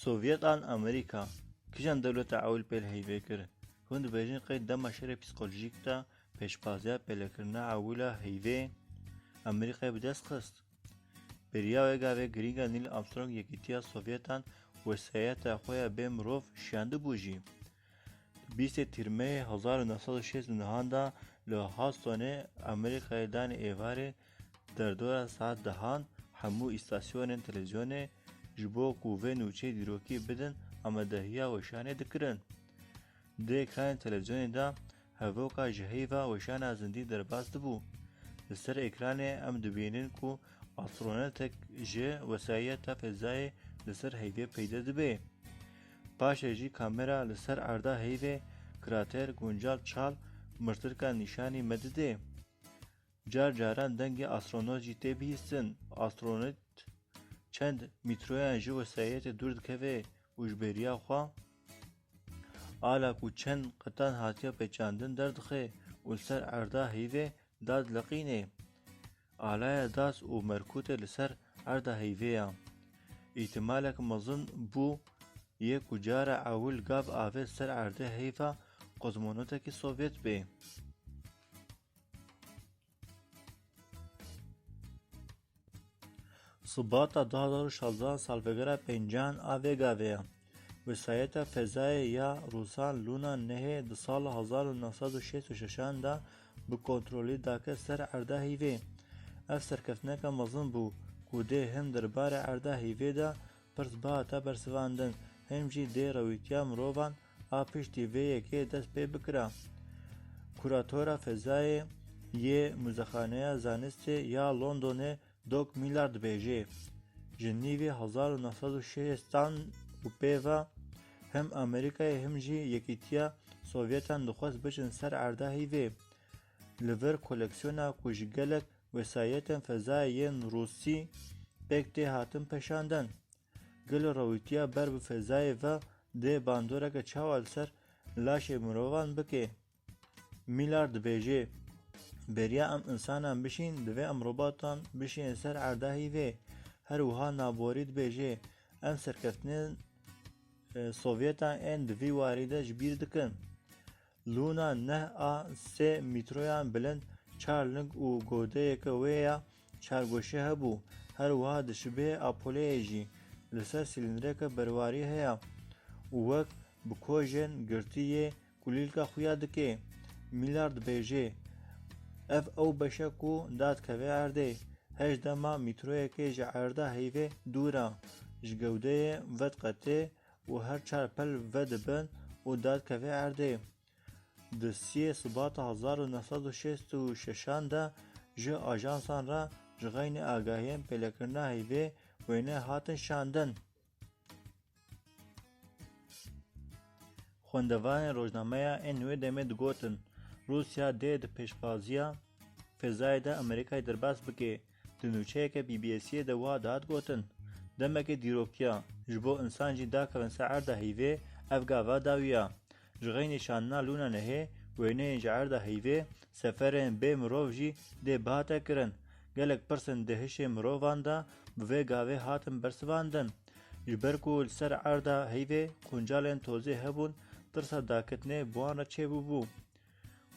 Sovyetan Amerîka kîjan dewleta Ewlpê li heyvê kir? Hûn dibêjin qey di dema şerê psîkolojîk de pêşbaziya pêlekirina Ewla heyvê Amerîkayê bi dest xist? Bêriya wê gavê girîng e Nîl Armstrong yekîtiya Sovyetan wesayeta xwe ya bê mirov şiyandibû jî. Bîstê Tîrmeyê hezar û neh sed û şêst û nihan de li Hustonê Amerîkayê danê êvarê derdora saet dehan hemû îstasyonên televîzyonê ji bo ku vê nûçeyê dîrokî bidin amadehiya weşanê dikirin. Di ekranên televîzyonê de Hevoka ji heyva weşana zindî derbas dibû. Li ser ekranê em dibînin ku astronotek ji wesayeta fezayê li ser heyvê peyde dibe. Paşê jî kamera li ser erda heyvê, krater, guncal, çal, mirtirka nîşanî me dide. Car caran dengê astronot jî tê bihîstin. Astronot çend mîtroyan ji wesayetê dûr dikeve û ji bêriya xwe ala ku çend qetan hatiye pêçandin derdixe û li ser erda heyvê da dileqînê. Alaya das û merkûtê li ser erda heyvê ya. Îhtimalek mezin bû yê ku cara ewil gav avê ser erdê heyva kozmonotekî Sovyet bê. Şubata du hezar û şazda salvegera pêncîyan a vê gavê ye. Wesayeta Fezayê ya Rûsan Lûna Nehê di sala hezar û neh sed û şêst û şeşan de bi kontrolî dake ser erda hîvê. Ev serkeftineke mezin bû ku dê hin derbarê erda hîvê de Pirs bihata bersivandin, him jî dê rewîtiya mirovan a piştî vê yekê dest pê bikira. Kuratora Fezayê yê Muzexaneya Zanistê ya Londonê Doc Millard dibêjê, Ji nîvê hezar û neh sed û şêstan û pê ve him Amerîkayê him jî Yekîtiya Sovyetan dixwest biçin ser erda hîvê. Li vir koleksiyona ku ji gelek wesayetên fezayê yên rûsî pêk tê hatin peşandin. Gelo rewîtiya ber bi fezayê ve dê bandoreke çawa li ser laşê mirovan bikê? Mîlar dibêjê, Beriya em insanan bişîn divê em robatan bişînin ser erda hîvê. Her wiha Naborî dibêjê, Em serkeftinên e, Sovyetan ên di vî warî de ji bîr dikin. Lûna neh a sê mîtroyan bilind, çar ling û godeyeke wê ya çargoşî hebû. Her wiha di şibiyê a poleyê jî li ser sîlîndreke berwarî heye û wek bi kojên girtî yê kulîlka xuya dikê. Mîlar dibêjê, Ev ew beş e ku da dikeve erdê. Heşt dema mîtroyekê ji erda heyvê dûr e. Ji gewdeyê vediqetê û her çar pel vedibin û dadkevê erdê. Di siyê Sibata hezar û neh sed û şêst û şeşan de ji ajansan re ji xeynî agahiyên pêlekirina heyvê wêne hatin şandin. Xwendevanên rojnameya ên wê demê digotin, Rûsya dê di pêşbaziya fêzayê de Amerîkayê derbas bike. Di nûçeyeke BBS'ê de wiha dihat gotin, Demeke dîrokîya, ji bo insan jî dakevin ser erda heyvê, ev gava dawî ya. Ji xeynî şandina lûna nehê, wêneyên ji erda heyvê, seferên bê mirov jî dê bihate kirin. Gelek pirsên di hişê mirovan de bi vê gavê hatin bersivandin. Ji ber ku li ser erda heyvê quncalên tozê hebûn, tirsa dakitinê bi wan re çêbûbû.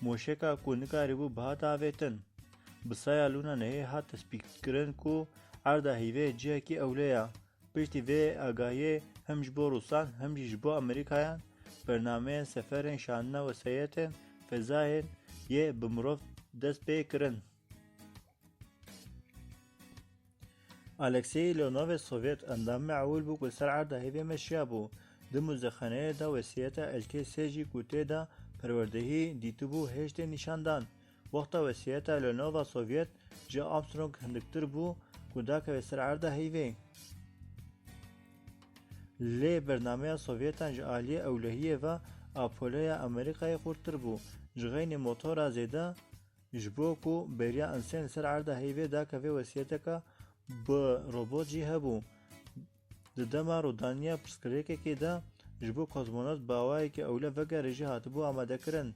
Moşeka ku nikarîbû bi hat avêtin, bi saya Luna Neyê hat tespîtkirin ku erda hîvê cihekî ewle ya. Piştî vê agahiyê hem ji bo Rûsan hem jî ji bo Amerîkayan bernameyên seferên şandina wesayetên fezayên yê bi mirov dest pê kirin. Alexey Ilonov Sovyet endam me'ul bû ku li ser erda hêvê meşiya bû. Di muzexaneyê de wesiyeta Elkê sê jî ku tê de perwerdehî dîtibû hêj tê nîşandan. Wexta wesiyeta Ilonova Sovyet ji Armstrong hindiktir bû ku dakeve ser erda hêvê. Lê bernameya Sovyetan ji aliyê ewlehiyê ve Apolloya Amerîkayê xurttir bû. Ji xeynî motora zêde Ji bo ku bêriya Einstein li ser erda heyvê dake vê wesiyeteke bi robot jî hebû. Di dema rûdaniya pirsgirêkekê de ji bo kozmonot bi awayekî ewle vegere jî hatibû amadekirin.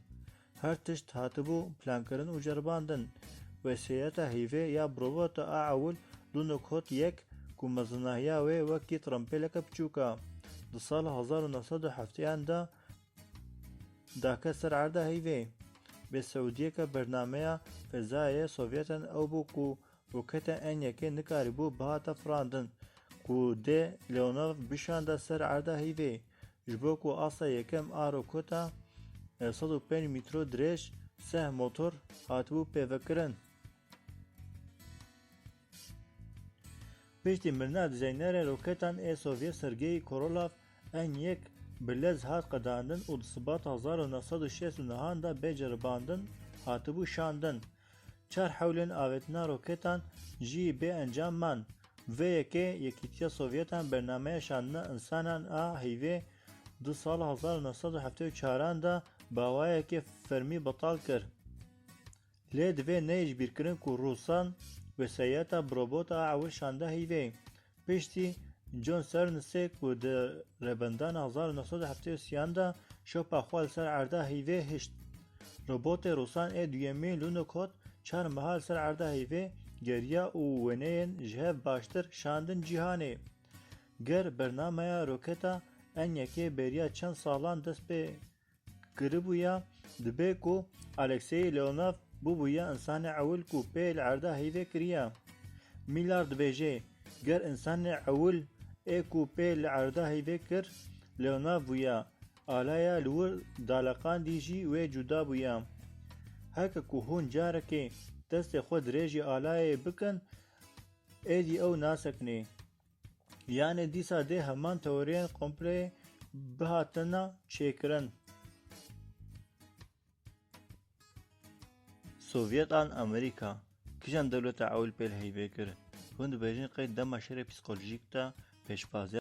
Her tişt hatibû plankirin û ceribandin. Wesiyeta heyvê ya bi robot a ewil Lunokhod Hot yek ku mezinahiya wê wekî trimpêleke piçûk e. Di sala hezar û neh sed û hefteyan de Dake ser erda heyvê. Bê Siûdiyeke bernameya fezayê Sovyetan ew bû ku roketa Enyekê nikarîbû bihata firandin ku dê Leonov bişanda ser erda heyvê. Ji bo ku asta yekem a roketa sed û pênc mîtro dirêj, seh motor hatibû pêvekirin. Piştî mirina dizaynerê roketan ê Sovyet Sergei Korolav, N yek bi lez hat qedandin û di Sibata hezar û neh sed û şêst û nihan de bê ceribandin hatibû şandin. Çar hewlên avêtina roketan jî bê encam man. Vê yekê Yekîtiya Sovyetan bernameya şandina însanan a heyvê di sala hezar û neh sed û heftê û çaran de bi awayekî fermî betal kir. Lê divê neyê ji bîr kirin ku Rûsan wesayeta bi robota ew şande heyvê. Piştî John Sernsê ku di Rêbendana hezar û neh sed û heftê û sî an de şopa xwe li ser erda heyvê hişt. Robotê Rûsan ê duyemîn Lunokhod çar meha li ser erda heyvê geriya û wêneyên ji hev baştir şandin cîhanê. Ger bernameya roketa Enyaqê bêriya çend salan dest pê Kiribûya dibê ku Alexeyi Leonav bûbûya însanê ewil ku pê li erda heyvê kiriya. Mîlar dibêje, ger însanê ewil ê ku pê li erda heyvê kir Leonav bûya, alaya li wir daleqandî jî wê cuda bûya. Heke ku hûn carekê destê xwe dirêjî alayê bikin, êdî ew nasekinê. Yanê dîsa dê heman teoriyên kompleyê bihatina çêkirin. Sovyet an Amerîka kijan dewleta ewil pêl heybê kir? Hûn dibêjin qey dema şerê psîkolojîk de pêşbaziya.